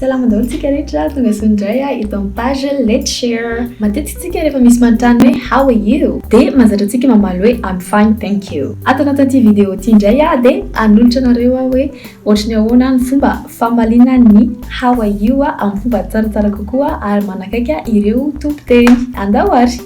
Salama daholo tsika rehetra, tongasoa indray ah eto amin'ny page Let's Share. Matetika tsika rehefa misy manontany hoe How are you? dia mahazatra antsika mamaly hoe I'm fine, thank you. Ato anatin'ity video ity indray aho dia hanolotra anareo aho hoe ohatry ny ahoana ny fomba famaliana ny How are you amin'ny fomba tsaratsara kokoa ary manakaiky ireo tompon-teny. Andao ary!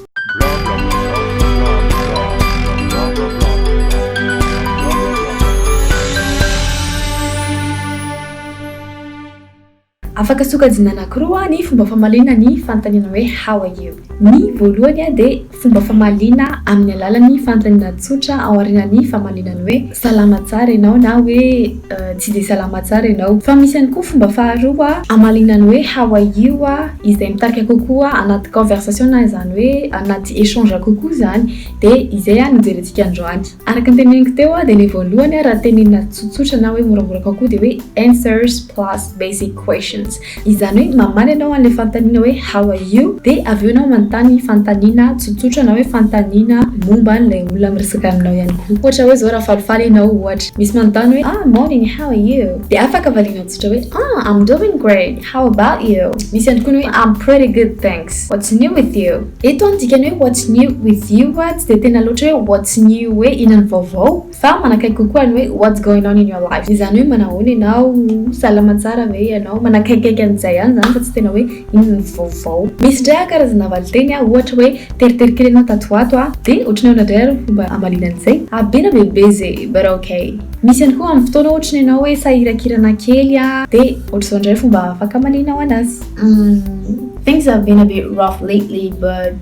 Afaka sokajina anankiroa ny fomba famaliana ny fanontaniana hoe how are you. Ny voalohany dia fomba famaliana amin'ny alalan'ny fanontaniana tsotra ao aorianan'ny famaliana ny hoe salama tsara ianao na hoe tsy dia salama tsara ianao. Fa misy ihany koa fomba faharoa hamaliana ny hoe how are you izay mitarika kokoa anaty conversation na izany hoe anaty echange kokoa izany dia izay no jerentsika androany. Araka ny teneniko teo dia ilay voalohany raha tenenina tsotsotra na hoe moramora kokoa dia hoe answers plus basic questions. Izany hoe mamaly ianao an'ilay fanontaniana hoe how are you dia avy eo ianao manontany fanontaniana tsotsotra na hoe fanontaniana momba an'ilay olona miresaka aminao ihany koa. Ohatra hoe izao raha falifaly ianao ohatra, misy manontany hoe ah morning, how are you? dia afaka valianao tsotra hoe ah I'm doing great. How about you? Misy antokony hoe I'm pretty good thanks. What's new with you? Eto ny dikany hoe what's new with you tsy dia tena loatra hoe what's new hoe inona ny vaovao fa manakaiky kokoa ny hoe what's going on in your life. Izany hoe manahoana ianao, salama tsara ve ianao, manakaikaiky an'izay ihany izany fa tsy tena hoe inona ny vaovao. Misy indray aho karazana valinteny aho ohatra hoe teritery kely ianao tato ho ato aho dia ohatran'ny ahoana indray ary ny fomba hamaliana an'izay? Ah be na be be ze but ok. Misy ihany koa amin'ny fotoana ohatra ny ianao hoe sahirakirana kely dia. Ohatr'izao indray fomba fakamanenao anazy. Things have been a bit rough lately but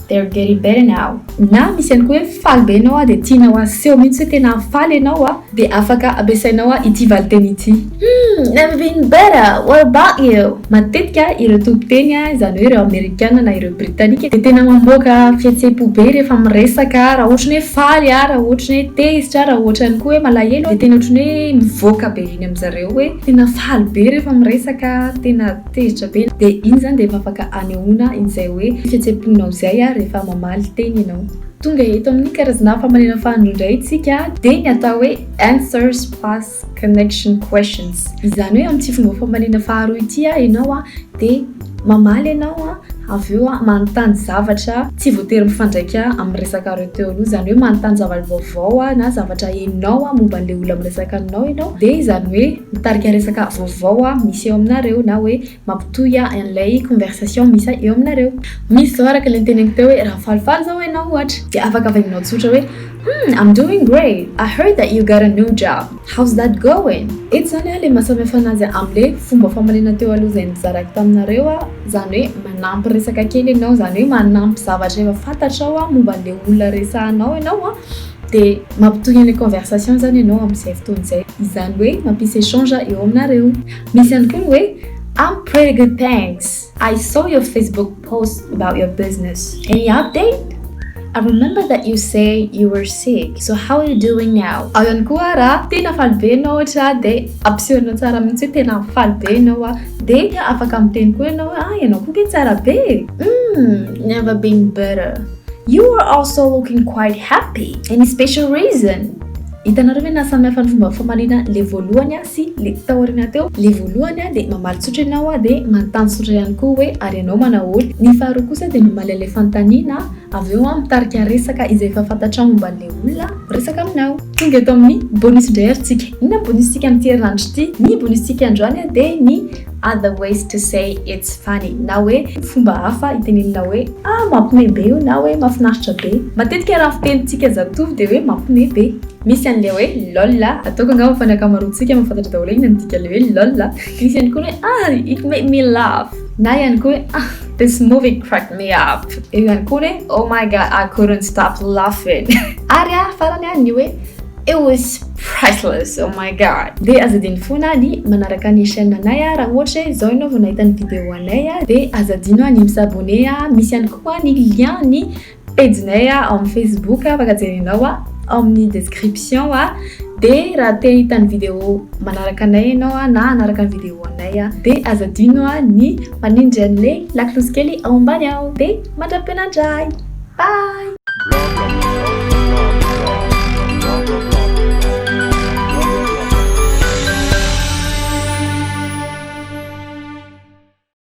they're getting better now. Na misy ihany koa hoe faly be ianao dia tianao aseho mihitsy hoe tena faly ianao dia afaka ampiasainao ity valinteny ity. Humm, never been better, what about you? Matetika ireo tompon-teny, izany hoe ireo Amerikana na ireo Britanika, dia tena mamoaka fihetsem-po be rehefa miresaka, raha ohatra ny hoe faly, raha ohatra ny hoe tezitra, raha ohatra ihany koa hoe malahelo dia tena ohatran'ny hoe mivoaka be eny amin-dry zareo hoe. Tena faly be rehefa miresaka, tena tezitra be. De iny zany de efa afaka anehoana izay hoe fihetsem-ponao izay rehefa mamaly teny ianao. Tonga eto amin'ny karazana famalyana fahandro indray isika, dia ny atao hoe answers plus connection questions. Izany hoe amin'ity fomba famaliana faharoa ity ianao dia. Mamaly ianao an, avy eo an manontany zavatra tsy voatery mifandraika amin'ny resakan'ireo teo aloha, izany hoe manontany zavatra vaovao an na zavatra henonao an momba an'ilay olona miresaka aminao ianao, dia izany hoe mitarika resaka vaovao an misy eo aminareo na hoe mampitohy an an'ilay conversation misy eo aminareo. Misy izao araka ilay noteneniko teo hoe raha falifaly izao ianao ohatra dia afaka vaingonao tsotra hoe. Humm I'm doing great, I heard that you got a new job, how's that going? Eto zany a le mahasamihafa anazy amle fomba famalena teo aloha zay nizarako taminareo a, zany hoe manampy resaka kely enao zany hoe manampy zavatra efa fantatrao a momba anle olona resahanao enao a de mampitohy anle conversation zany enao amzay fotoana zay, izany hoe mampisy echange eo aminareo. Misy ihany koa ny hoe I'm pretty good thanks. I saw your Facebook post about your business, any update? I remember that you say you were sick, so how are you doing now? Ao ihany koa ra tena faly be ianao ohatra dia ampisehoanao tsara mihitsy hoe tena faly be ianao a. Dia afaka miteny koa ianao hoe ah ianao koa nge tsara be e. Hmm, never been better. You are also looking quite happy. Any special reason? Hitanareo ve naha samihafa ny fomba famaliana le voalohany a? sy le taorina teo, le voalohany a de mamaly tsotra ianao a de manontany tsotra ihany koa hoe ary ianao manao ahoana? ny faharoa kosa de mamaly an'le fanontaniana avy eo a mitarika resaka izay efa fantatrao momba an'le olona miresaka aminao. Tonga eto amin'ny bonus indray ary tsika, inona ny bonus tsika amin'ity herinandro ity? ny bonus tsika androany a de ny other ways to say it's funny na hoe fomba hafa hitenenina hoe ah mampime be io na hoe mafinaritra be, matetika raha fiteny tsika zatovo de hoe mampime be. Misy an'ilay hoe lol a! Ataoko angamba fa ny ankamaroantsika mahafantatra daholo inona ny dikan'ilay hoe lol a! Misy ihany koa ny hoe ah! it made me laugh! Na ihany koa hoe ah! this movie cracked me up! Eo ihany koa ny hoe oh my god! I couldn't stop laughing! Ary farany ny hoe it was priceless! Oh my god! Dia aza adino foana ny manaraka ny chaîne anay a! Raha ohatra hoe izao ianao vao nahita ny vidéo anay dia aza adino ny mi-s'abonner a! Misy ihany koa ny lien ny Pejinay ao amin'ny Facebook afaka jerenao ao amin'ny description dia raha te hahita ny video manaraka anay ianao na hanaraka ny video anay dia aza adino ny manindry an'ilay lakolosy kely ao ambany ao dia mandra-penandray! Bye!